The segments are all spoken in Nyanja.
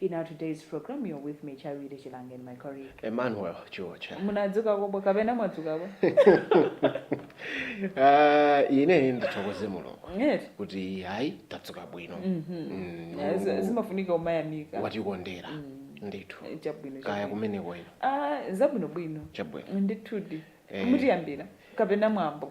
In our today's program, you're with me, Charity Chilange, and my colleague. Emmanuel Chiwocha. Munadzuka bwa kapena mwadzuka bwa? Ah, ine ndithokoze mulungu Yes. kuti hayi tadzuka bwino Mm, Yeah, zi- Zimafunika umayamika. watikondera ndithu Eh, Chabwino. kaya chabwino. kumene kwanu Ah, zabwino bwino. chabwino Ndithudi. Eh. Mutiyambira kapena mwambo.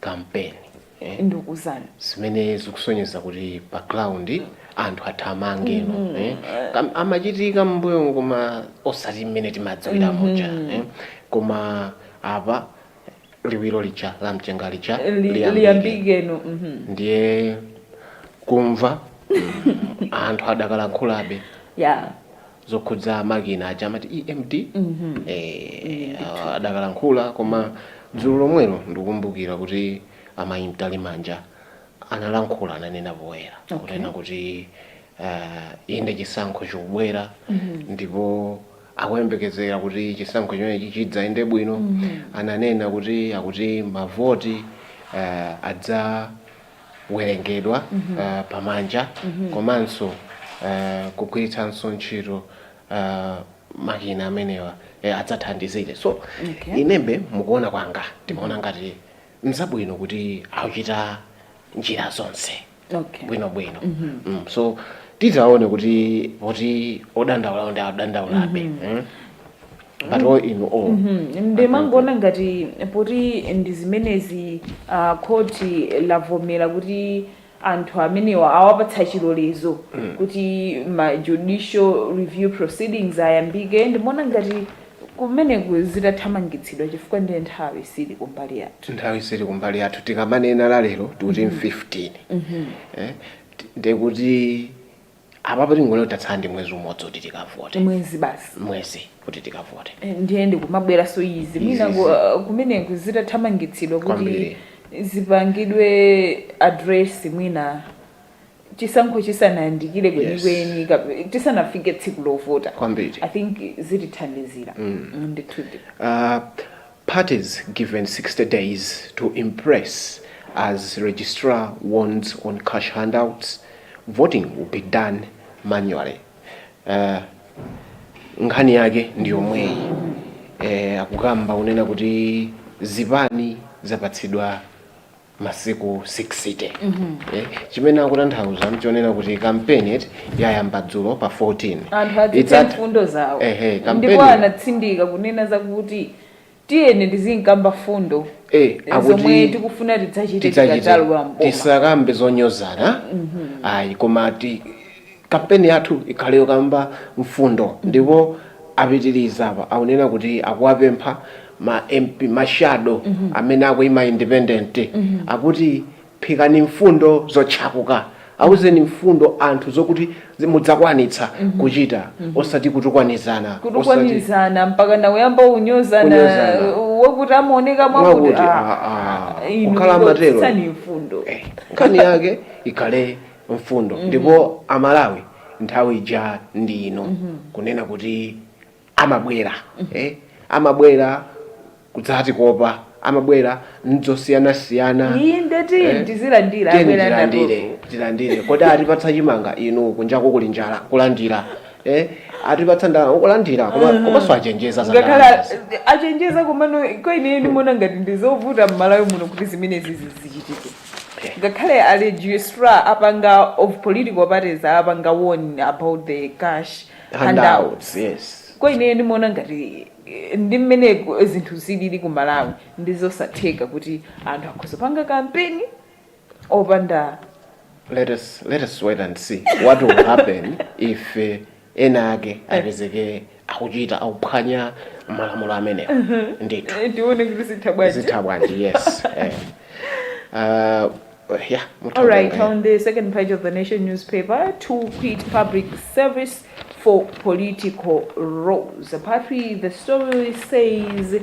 kampeni eh? ndikuuzani zimene zikusonyeza kuti pa ground anthu athamange no eh? Kam- amachitika mmbuyomu koma osati mmene timadziwira muja eh? koma apa liwiro lija la mchenga lija liyambike. liyambikeno mhm. ndiye kumva mm, anthu adakalankhulabe ya zokhudza makina aja amati emd eh, ah, adakalankhula koma dzulo lomwelo ndikumbukira kuti amayi mtalimanja analankhula ananena poyera Okay. kunena kuti ah, inde chisankho chikubwera ndipo akuyembekezera kuti chisankho chimenechi chidzayende bwino ananena kuti akuti mavoti ah, adza werengedwa pamanja komanso kugwiritsanso ntchito makina amenewa adzathandizire so inembe mukuona kwanga ndimaona ngati mzabwino kuti akuchita njira zonse bwinobwino so tizaone kuti poti odandaulawo adandaulabe but all in all ndimangoona ngati poti ndi zimenezi ah, khoti lavomera kuti anthu amenewa awapatsa chilolezo kuti ma judicial review proceedings ayambike ndimaona ngati kumeneko zitathamangitsidwa chifukwa ndiye nthawi sili kumbali yathu nthawi sili kumbali yathu tikamanena la lero tikuti 15 eh, ti- ndekuti apapa tingoti lero tatsala ndi mwezi umodzi kuti tikavote mwezi basi mwezi kuti tikavote Eh, ndiye ndikumabweranso izi mwina Izi, ku- izi. uh, kumeneko zitathamangitsidwa kuti Kwambiri. zipangidwe address mwina chisankho chisanayandikire kwenikweni kap- tisanafike tsiku lovota kwambiri i think zitithandizira Mm. ndithudi Ah, Parties given 60 days to impress as registrar warns on cash handouts, voting will be done manually. Uh, nkhani yake ndi yomweyi eh, akukamba kunena kuti zipani zapatsidwa masiku 60 eh, chimene akutanthauza mchonena kuti kampeni eti yayamba dzulo pa 14 anthu azinena Idzatha- mfundo zawo Ehe, ndipo kampeni anatsindika kunena zakuti tiyeni tizikamba mfundo Eh, akuti zomwe tikufuna tidzachite tidzachite tikadzalowa mboma tisakambe zonyozana ayi koma ti- Campaign yathu ikhale yokamba mfundo ndipo apitiliza apa akunena kuti akuwapempha ma MP ma shadow amene akuima independent akuti phikani mfundo zotchakuka auzeni mfundo anthu zokuti mudzakwanitsa kuchita osati kutukwanizana osati kutukwanizana mpakana kuyamba kunyozana kunyozana wakuti amaoneka mwakuti mwakuti ah, ah, ah, ah, inu kukhala amatero ingotsitsani mfundo eh, nkhani yake ikhale mfundo ndipo amalawi nthawi ija ndi ino kunena kuti amabwera eh, amabwera kudzatikopa amabwera ndi zosiyanasiyana inde tiyeni tizilandira tiyeni abwera tilandire ndatofu tilandire kodi atipatsa chimanga inu kunjako kuli njala kulandira eh, atipatsa ndalama kulandira koma komanso achenjeza za ngakhale ndalama. achenjeza komano kwaine ndimaona ngati ndizovuta m'Malawi muno kuti zimenezi zizichitike Ngakhale a registrar apanga of political parties apanga warn about the cash handouts yes kwa ineyo ndimaona ngati eh, ndi mmene ku- zinthu zilili ku Malawi ndizosatheka kuti anthu akhoza kupanga campaign opanda let us let us wait and see what will happen if uh, ena ake apezeke akuchita akuphwanya malamulo amenewa ndithu Eh, tione kuti zitha bwanji zitha bwanji yes eh. uh, yeah, mutha All right, kutenga, eh. on the second page of the Nation newspaper, to quit public service for political roles. Apparently, the story says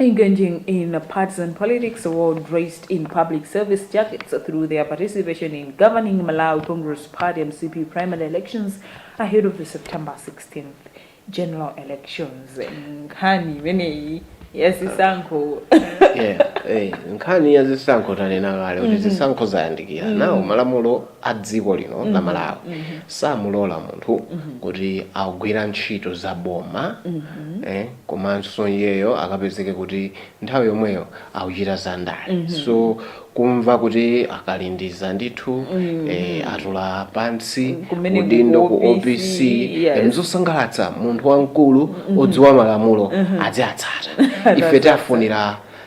engaging in partisan politics while dressed in public service jackets through their participation in governing Malawi Congress Party MCP primary elections ahead of the September 16th general elections. Nkhani imeneyi ya zisankho Yeah, eh, nkhani ya zisankho tanena kale kuti zisankho zayandikira nawo malamulo a dziko lino la Malawi samulola munthu kuti agwira ntchito za boma eh, komanso iyeyo akapezeke kuti nthawi yomweyo akuchita za ndale mm -hmm. so kumva kuti a Kalindiza ndithu mm -hmm. e, atula pansi Kumene udindo ku ku OPC, OPC yes. e, nzosangalatsa munthu wamkulu mm -hmm. odziwa malamulo mm -hmm. aziwatsata ife tafunira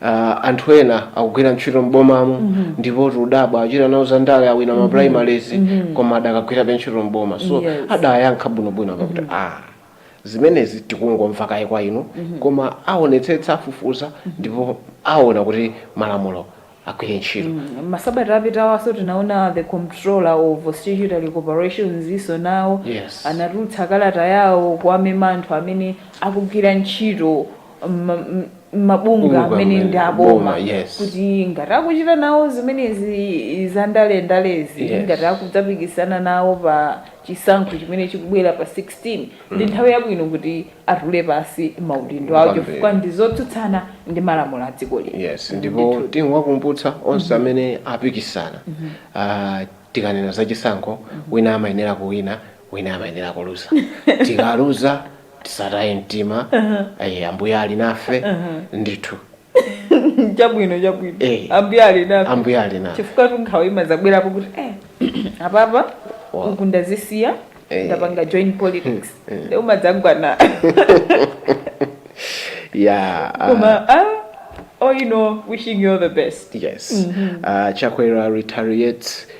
Uh, anthu ena akugwira ntchito m'bomamu mm -hmm. ndipo tikudabwa achita nawo za ndale awina ma primaries mm -hmm. koma adakagwirabe ntchito m'boma so Yes. adayankha bwinobwino akuti mm -hmm. ah zimenezi tikungomva kaye kwa inu mm -hmm. koma aonetsetsa afufuza ndipo aona kuti malamulo agwire ntchito mm -hmm. masabata apitawanso tinaona the comptroller of statutory corporations iwonso nawo Yes. anatulutsa kalata yawo kuwamema anthu amene akugwira ntchito ma- m- mabungwe Bungwe amene amene- ndi aboma boma, yes. kuti ngati akuchita nawo zimenezi za ndale ndalezi Yes. ngati akudzapikisana nawo pa chisankho chimene chikubwera pa 16 ndi nthawi yabwino kuti atule pansi maudindo awo Kwambiri. chifukwa ndi zotsutsana ndi malamulo a dziko lino yes ndipo Ndithu. tingowakumbutsa onse amene apikisana Ah, tikanena za chisankho wina amayenera kuwina wina amayenera kuluza tikaluza tisataye mtima ayi ambuye ali nafe ndithu chabwino chabwino Eh. ambuye ali nafe ambuye ali nafe chifukwatu nkhawa imazabwerapo kuti eh, apapa Wa- uku ndazisiya Eh. ndapanga join politics nde umadzagwa na ya ah, koma ah, all in all wishing you all the best yes uh, chakwera reiterates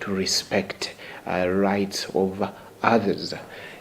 to respect rights of others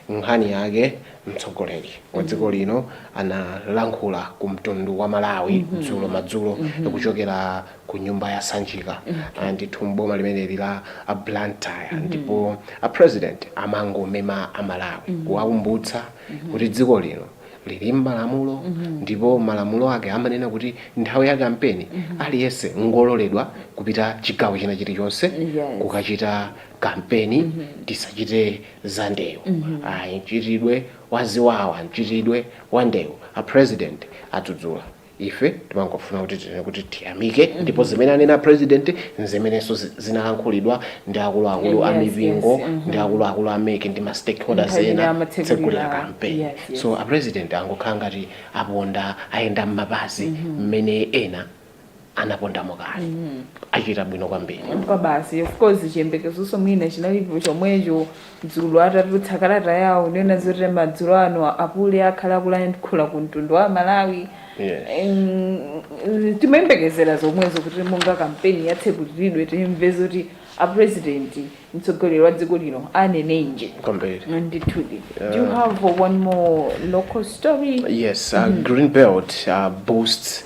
nkhani yake mtsogoleri wa dziko lino analankhula ku mtundu wa malawi dzulo madzulo kuchokera ku nyumba ya sanjika Ah, ndithu mboma limeneli la blantyre ndipo a president amangomema amalawi kuwakumbutsa kuti dziko lino lili mmalamulo ndipo malamulo ake amanena kuti nthawi ya kampeni aliyense ngololedwa kupita chigawo china chilichonse Yes. kukachita kampeni tisachite za ndewu ayi mchitidwe waziwawa mchitidwe wa ndewu a president adzudzula Ife timangofuna kuti tinene kuti tiyamike ndipo zimene anena president nzimenenso zi- zinalankhulidwa ndi akuluakulu a Yes, yes, mipingo mhm. ndi akuluakulu a mec ndi ma stakeholders Nthawi imene ena amatsegulira- tsegulira campaign yes, yes. so a president angokhala ngati aponda ayenda m'mapazi mmene ena anapondamo kale achita bwino kwambiri kwa basi of course chiyembekezonso mwina chinalipo chomwecho dzulo atatulutsa kalata yawo kunena zoti madzulo ano apule akhala akulankhula ku mtundu wa malawi Yes. Em, timayembekezera zomwezo kuti monga kampeni yatsegulidwa timve zoti apurezidenti mtsogoleri wa dziko lino anenenji kwambiri ndithudi do you have one more local story Yes, uh, Greenbelt uh, boosts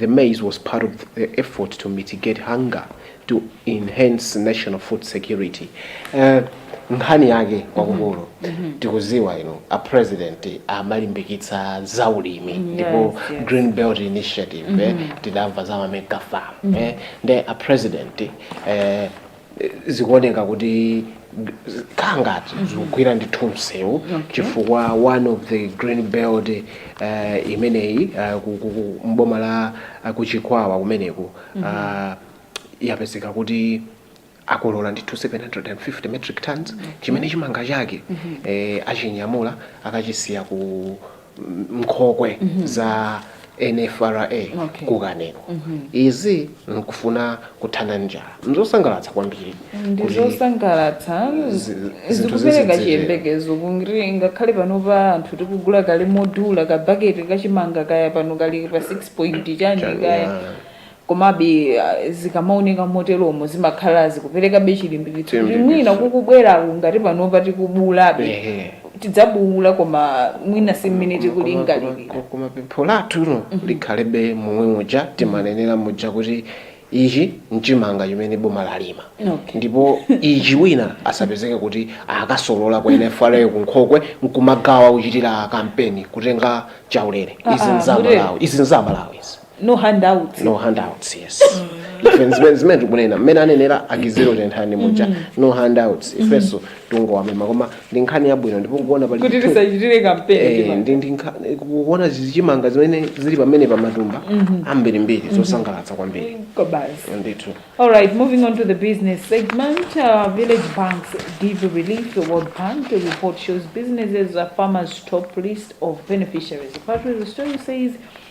The maize was part of the effort to mitigate hunger to enhance national food security. Eh, nkhani yake kwakukulu tikuziwa ino a president amalimbikitsa za ulimi ndipo yes. green belt initiative eh, tidamva za mamega farm eh, nde a president eh, zikuoneka kuti zikukhala ngati zikugwira ndithu msewu chifukwa one of the green belt eh, imeneyi eh, ku- ku- ku- m'boma la eh, kuchikwawa kumeneku ah, yapezeka kuti akolola ndithu 750 metric tons chimene chimanga chake eh, achinyamula akachisiya ku nkhokwe za nfra Okay. ku kanengo izi nkufuna kuthana ndi njala nzosangalatsa kwambiri kuti- ndizosangalatsa zi- zinthu zikupereka zizidzere. chiyembekezo kuti ngakhale panopa anthu tikugula kale modula kabaketi kachimanga kaya pano kali pa 6 point chani Chani, kaya yeah. Komabe, zikamaoneka moteromo zimakhala zikuperekabe chilimbikitso kuti mwina Chilimbikitso. kukubweraku ngati panopa tikubuulabe, Ehe. tidzabuula koma mwina si mmene Koma- koma- tikulingalirira. koma- koma pempho lathu lo likhalebe momwe muja timanenera muja kuti ichi mchimanga chimene boma lalima Okay. ndipo ichi wina asapezeke kuti akasolola kwa NFRA kunkhokwe nkumagawa kuchitira kampeni kutenga chaulere izi Ah, ah, nza Amalawi izi nza Amalawi izi no handouts no handouts yes Ife zimene- zimene tikunena mmene anenera a Kizito Tenthani muja no handouts ifenso tungowamema koma ndi nkhani yabwino ndipo kuona pali kuti chithu- tisachitire Eh, kampeni ndi ndi nkha- kuona zichimanga zimene zili pamene pa matumba ambirimbiri zosangalatsa kwambiri kobasi ndithu All right, moving on to the business segment. Uh, village banks give relief World Bank report shows businesses, farmers top list of beneficiaries. Part of the story says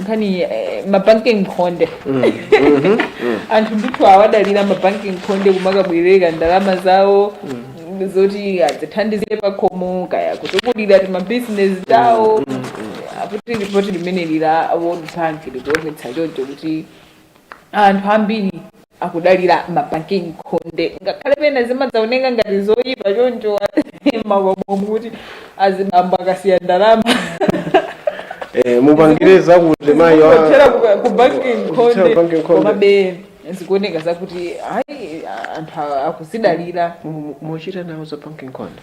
nkhani eh, mabanki nkhonde anthu ndithu awadalira mabanki nkhonde kumakabwereka ndalama zawo zoti adzithandizire pakhomo kaya kutukulira timabizinesi tawo akuti ripoti limene ili la World Bank likuonetsa choncho kuti anthu ambiri akudalira mabanki nkhonde ngakhale pena zimadzaoneka ngati zoyipa choncho m'makomomu kuti azibambo akasiya ndalama Eh, mupangire zakuti mayi wa- kuthera ku banki kuthera ku banki nkhonde nkhonde. komabe zikuoneka zakuti ayi anthu a- akuzidalira Mu- mu- muchita nawo za banki nkhonde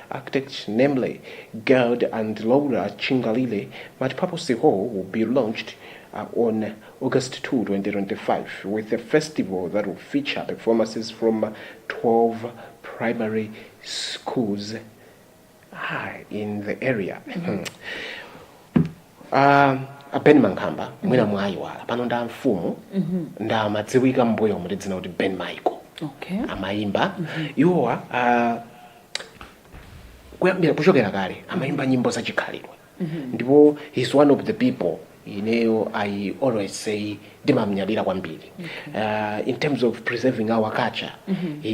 architects namely Gerd and Laura Chingalire Multipurpose Hall will be launched uh, on August 2, 2025 with a festival that will feature performances from 12 primary schools ah, in the area. Ah, a Ben Mankhamba mwina mwayiwala pano ndi amfumu nde amadziwika m'mbuyomu ndi dzina kuti Ben Michael okay amayimba iwowa ah, kuyambira kuchokera kale amayimba nyimbo za chikhalidwe ndipo he's one of the people ineyo i always say ndimamnyadira kwambiri uh, in terms of preserving our culture he,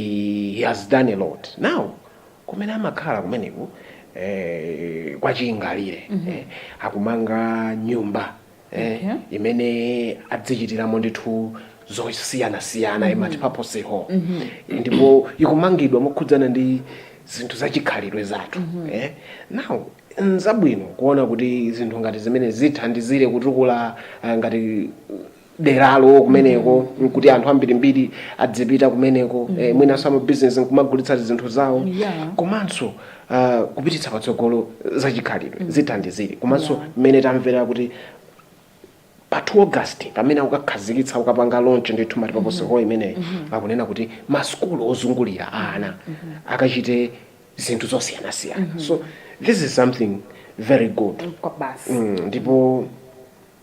he has done a lot now kumene amakhala kumeneko eh, kwa Chingalire eh, akumanga nyumba eh, okay. imene adzichitiramo ndithu zosiyanasiyana mm -hmm. multipurpose hall mm -hmm. ndipo ikumangidwa mokhudzana ndi zinthu zachikhalidwe zathu mm -hmm. eh? now nzabwino kuona kuti zinthu ngati zimene zithandizire kutukula uh, ngati deralo kumeneko mm -hmm. kuti anthu ambirimbiri adzipita kumeneko mm -hmm. eh, mwinanso amabizinesi nkumagulitsa zinthu zawo yeah. komanso uh, kupititsa patsogolo za chikhalidwe mm. zithandizire komanso yeah. mmene tamvera kuti pa 2 august pamene akukakhazikitsa ukapanga launch ndithu multipurpose mm-hmm. hall imeneyi mm-hmm. akunena kuti masukulu ozungulira ana mm-hmm. akachite zinthu zosiyanasiyana so this is something very good mm, ndipo mm -hmm.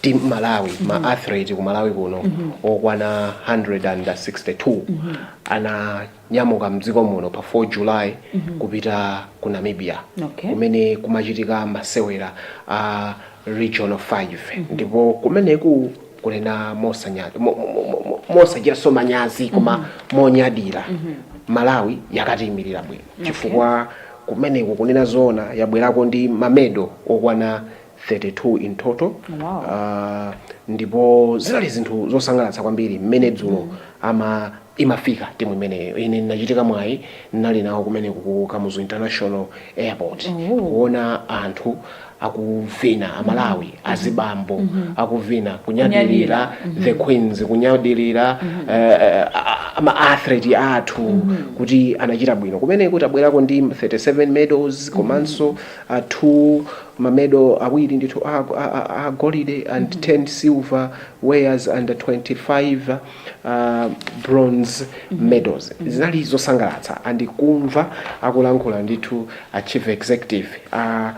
team malawi mm -hmm. ma athlete ku malawi kuno mm -hmm. okwana 162 mm -hmm. ananyamuka mdziko muno pa 4 july mm -hmm. kupita ku namibia okay. kumene kumachitika masewera a uh, region 5 mm -hmm. ndipo kumeneku kunena mosanyazi mo, mo, mo, mosachitanso manyazi koma mm -hmm. monyadira mm -hmm. malawi yakatiyimirira bwino okay. chifukwa kumeneku kunena zoona yabwerako ndi mamedo okwana 32 in total Wow. Ah, ndipo zinali zinthu zosangalatsa kwambiri mmene dzulo ama imafika timu imeneyo ine ndinachitika mwayi ndinali nawo kumeneku ku kamuzu international airport Oh. kuona anthu akuvina amalawi azibambo akuvina kunyadilira the queens kunyadilira eh, eh, a- ama athlete athu kuti anachita bwino kumeneku tabwerako ndi 37 medals komanso uh, two mamedo awiri ndithu a, a, a, a golide and mm -hmm. 10 silver wares and 25 uh, bronze mm -hmm. medals mm -hmm. zinali zosangalatsa and ndikumva akulankhula ndithu a chief executive a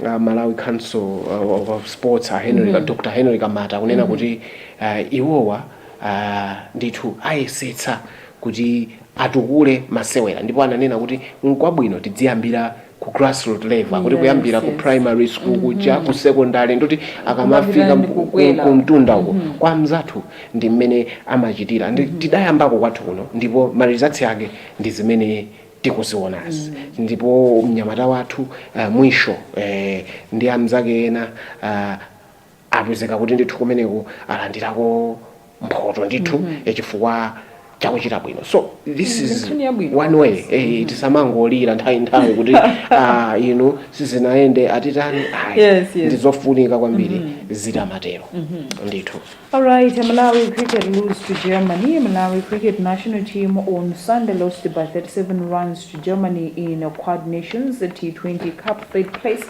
uh, uh, malawi council uh, of sports a henry mm -hmm. dr henry kamata kunena mm -hmm. kuti uh, iwowa uh, ndithu ayesetsa kuti atukule masewera ndipo ananena kuti nkwabwino tidziyambira ku grassroot level kuti Yes, kuyambira ku yes. primary school kuja ku secondary ndikuti akamafika Kumapita ndi ku- kukwera. ku mtunda uko kwa mzathu ndi mmene amachitira tidayambako kwathu kuno ndipo marizatsi ake ndi zimene tikuzionazi ndipo mnyamata wathu uh, mwisho eh, ndi amzake ena uh, apezeka kuti ndithu kumeneku alandirako mphoto ndithu mm -hmm. chifukwa chakuchita bwino so this mm, is one way eh, eh, mm-hmm. tisamangolira nthawi nthawi kuti ah, inu sizinayende atitani ayi yes, yes. ndizofunika kwambiri mm -hmm. zitamatero mm -hmm. ndithu alright a malawi cricket lose to germany a malawi cricket national team on sunday lost by 37 runs to germany in quad nations t20 cup third placed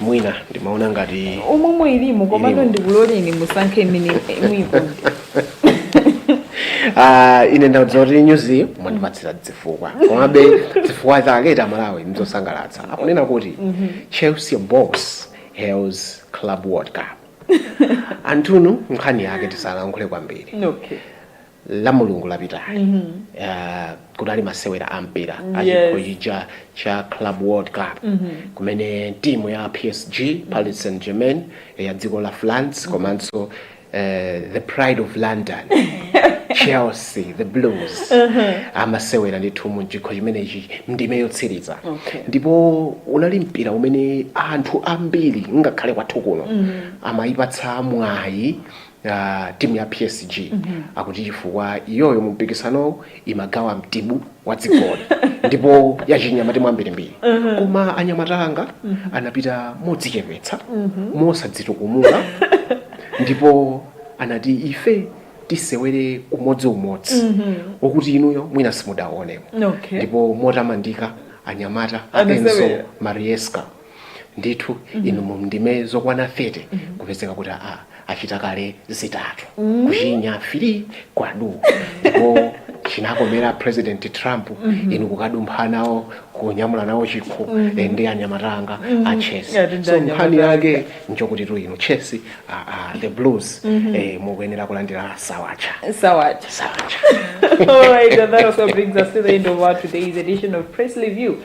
mwina ndimaona ngati umumu ilimu komano Ilimu. ndikuloleni musankhe imene muyikonde Ah, ine ndauza kuti nyuzi mwandipatsirayi dzifukwa komabe dzifukwa zake ta malawi ndizosangalatsa akunena kuti chelsea boss hails club world cup anthunu nkhani yake tisalankhule kwambiri okay la mulungu lapitali mm-hmm. uh, kunali masewera a mpira mm, achikho yes. chija cha club world cup mm-hmm. kumene timu ya psg mm-hmm. paris saint germain ya dziko la france mm-hmm. komanso uh, the pride of london chelsea the blues uh-huh. amasewera ndithu mu chikho chimenechi ndime yotsiriza okay. ndipo unali mpira umene anthu ambiri ngakhale kwathu kuno mm-hmm. amayipatsa mwayi a timu ya psg akuti chifukwa iyoyo mu mpikisanowu imagawa mtibu wa dzigoli ndipo yachinya matimu ambirimbiri koma anyamata anga anapita modzichepetsa mosadzitukumula ndipo anati ife tisewere umodzi umodzi wokuti inuyo mwina simudaonemo Okay. ndipo motamandika anyamata a enzo Anasewera. maresca ndithu inu mu ndime zokwana 30 kupezeka kuti achita kale zitatu kuchinya three kwadu ndipo chinakomera president trump inu kukadumpha nawo kunyamula nawo chikho eh, ndi anyamata anga a chelsea so nkhani yake nchokutitu inu chelsea ah, ah, the blues eh, mukuyenera kulandira sawacha Sawacha. sawacha All right, and that also brings us to the end of our today's edition of Press Review.